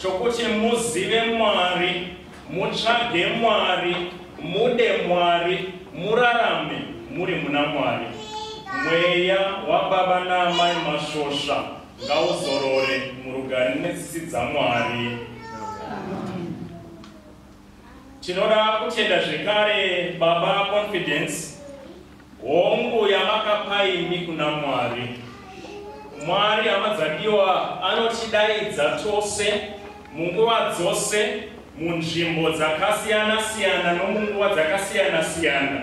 chokuti muzive Mwari, mutsvage Mwari, mude Mwari, murarame muri muna Mwari. Mweya wababa naamai Masvosva ngauzorore murugare netsitsi dzaMwari. Tinoda kutenda zvekare baba Confidence Hongu yamakapa imi kuna Mwari. Mwari amadzadiwa anotidaidza tose munguva dzose munzvimbo dzakasiyana siyana nomunguva dzakasiyana siyana.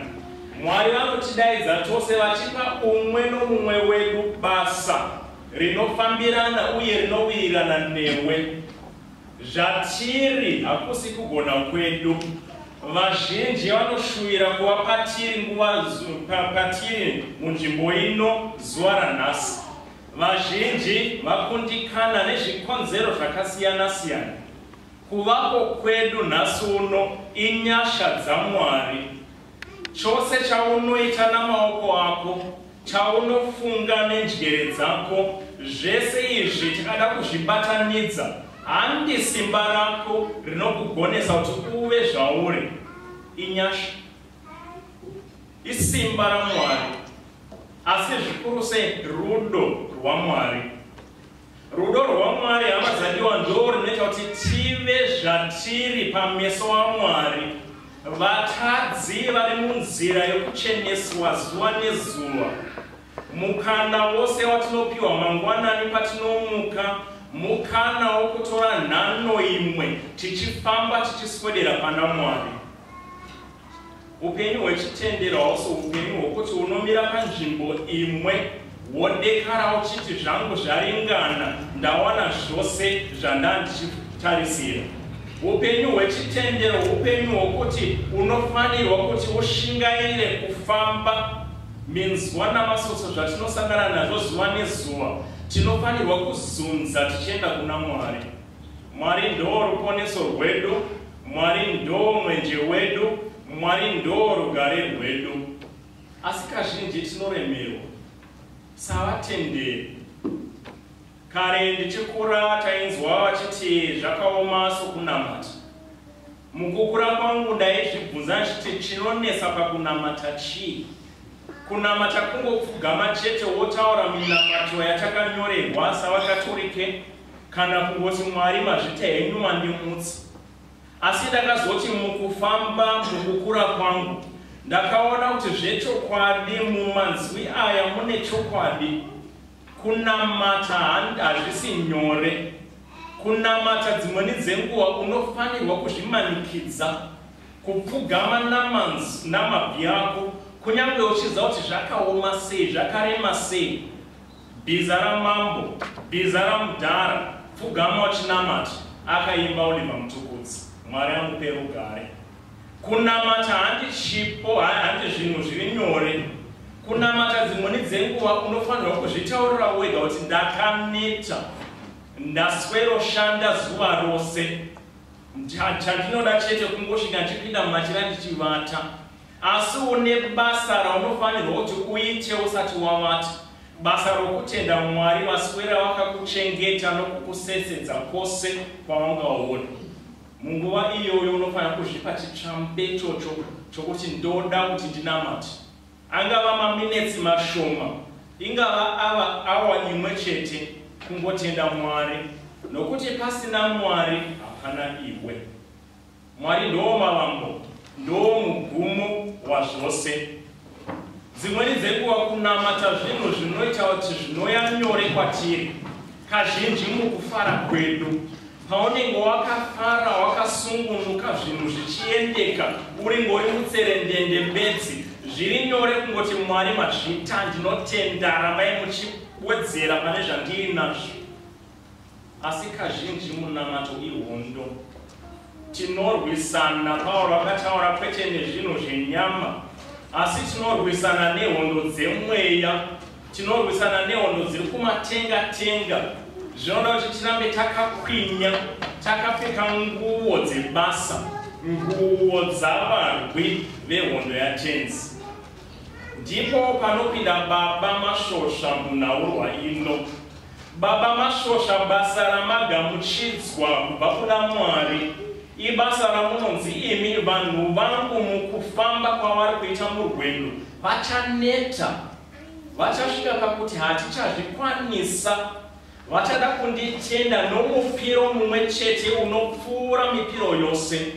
Mwari vanotidaidza tose vachipa umwe nomumwe wedu basa rinofambirana uye rinowirirana newe. Zvatiri hakusi kugona kwedu. Vazhinji vanoshuvira kuva patiri nguva patiri munzvimbo ino zuva ranhasi. Vazhinji vakundikana nezvikonzero zvakasiyana siyana. Kuvapo kwedu nhasi uno inyasha dzaMwari. Chose chaunoita namaoko ako, chaunofunga nenjere dzako, zvese izvi tikada kuzvibatanidza, handi simba rako rinokugonesa kuti uve zvauri. Inyasha. Isimba raMwari. Asi zvikuru sei rudo rwaMwari. Rudo rwaMwari hama dzandiwa ndo rinoita kuti tive zvatiri pameso aMwari. Vatadzi vari munzira yokucheneswa zuva nezuva. Mukana wose watinopiwa mangwanani patinomuka mukana wokutora nhano imwe tichifamba tichiswedera pana Mwari. Upenyu hwechitendero hausi upenyu hwokuti unomira panzvimbo imwe wodekara uchiti zvangu zvaringana, ndawana zvose zvandandichitarisira. Upenyu hwechitendero upenyu hwokuti unofanirwa kuti ushingaire kufamba minzwa namasotso zvatinosangana nazvo zuva nezuva. Tinofanirwa kuzunza tichienda kuna Mwari. Mwari ndoo ruponeso rwedu, Mwari ndoo mwenje wedu, Mwari ndoo rugare rwedu. Asi kazhinji tinoremerwa savatenderi. Kare ndichikura tainzwa vachiti zvakaoma sokunamata. Mukukura kwangu ndaizvibvunza ndichiti chinonetsa pakunamata chii? Kunamata kungopfugama chete wotaura minamato yatakanyorerwa savaKatorike kana kungoti mwari mazvita henyu mandimutsi asi ndakazoti mukufamba mukukura kwangu ndakaona kuti zvechokwadi mumanzwi aya mune chokwadi kunamata hazvisi nyore kunamata dzimweni dzenguva unofanirwa kuzvimanikidza kupfugama namabvi ako kunyange uchiziva kuti zvakaoma sei zvakarema sei Bhiza ramambo, bhiza ramudhara, pfugama uchinamata, akaimba Oliver Mtukudzi. Mwari amupe rugare. Kunamata handi chipo, handi zvinhu zviri nyore. Kunamata dzimweni dzenguva unofanirwa kuzvitaurira wega kuti ndakaneta, ndasweroshanda zuva rose. Chandinoda chete kungosvika ndichipinda mumachira ndichivata. Asi une basa raunofanirwa kuti uite usati wavata, basa rokutenda Mwari vaswera vakakuchengeta nokukusesedza kwose kwaungaona. Munguva iyoyo unofanira kuzvipa chitsvambecho cho, chokuti ndoda kuti ndinamate. Angava maminetsi mashoma, ingava ava awa imwe chete, kungotenda Mwari, nokuti pasina Mwari hapana iwe. Mwari ndoo mavambo, ndoo mugumo wazvose. Dzimweni dzenguva kunamata zvinhu zvinoita kuti zvinoya nyore kwatiri kazhinji mukufara kwedu. Paunenge wakafara, wakasungunuka, zvinhu zvichiendeka, uri ngori mutserendende bedzi, zviri nyore kungoti Mwari mazvita, ndinotenda, rambai muchiwedzera pane zvandiri nazvo. Asi kazhinji munamato ihondo. Tinorwisana, Pauro akataura, kwete nezvinhu zvenyama, asi tinorwisana nehondo dzemweya. Tinorwisana nehondo dziri kumatenga tenga. Zvinoda kuti tirambe takakwinya, takapfeka nguo dzebasa, nguo dzavarwi vehondo yaTenzi. Ndipo panopinda baba Mashosha munhaurwa ino. Baba Mashosha basa ramagamuchidzwa kubva kuna Mwari ibasa ramunonzi imi vanhu vangu mukufamba kwavari kuita murwendo vachaneta vachasvika pakuti hatichazvikwanisa vachada kunditenda nomupiro mumwe chete unopfuura mipiro yose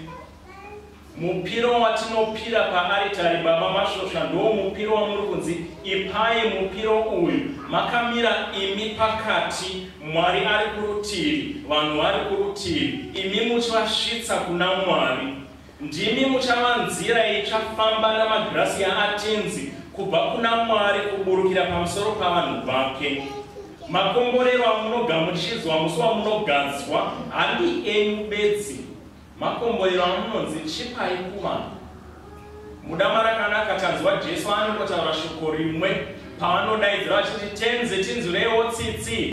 Mupiro watinopira paaritari baba Masvosva ndoo mupiro wamuri kunzi ipai mupiro uyu makamira imi pakati Mwari ari kurutivi vanhu vari kurutivi imi muchivasvitsa kuna Mwari ndimi muchava nzira itsva famba namagirasi yaatinzi kubva kuna Mwari kuburukira pamusoro pavanhu vake makomborero amunogamuchidzwa musi wamunogadzwa handi enyu bedzi Makomborero amunonzi chipai kuvanhu. Mudama rakanaka tanzwa Jesu anongotaura shoko rimwe pavanodaidzira vachiti tenzi tinzwirewo tsitsi.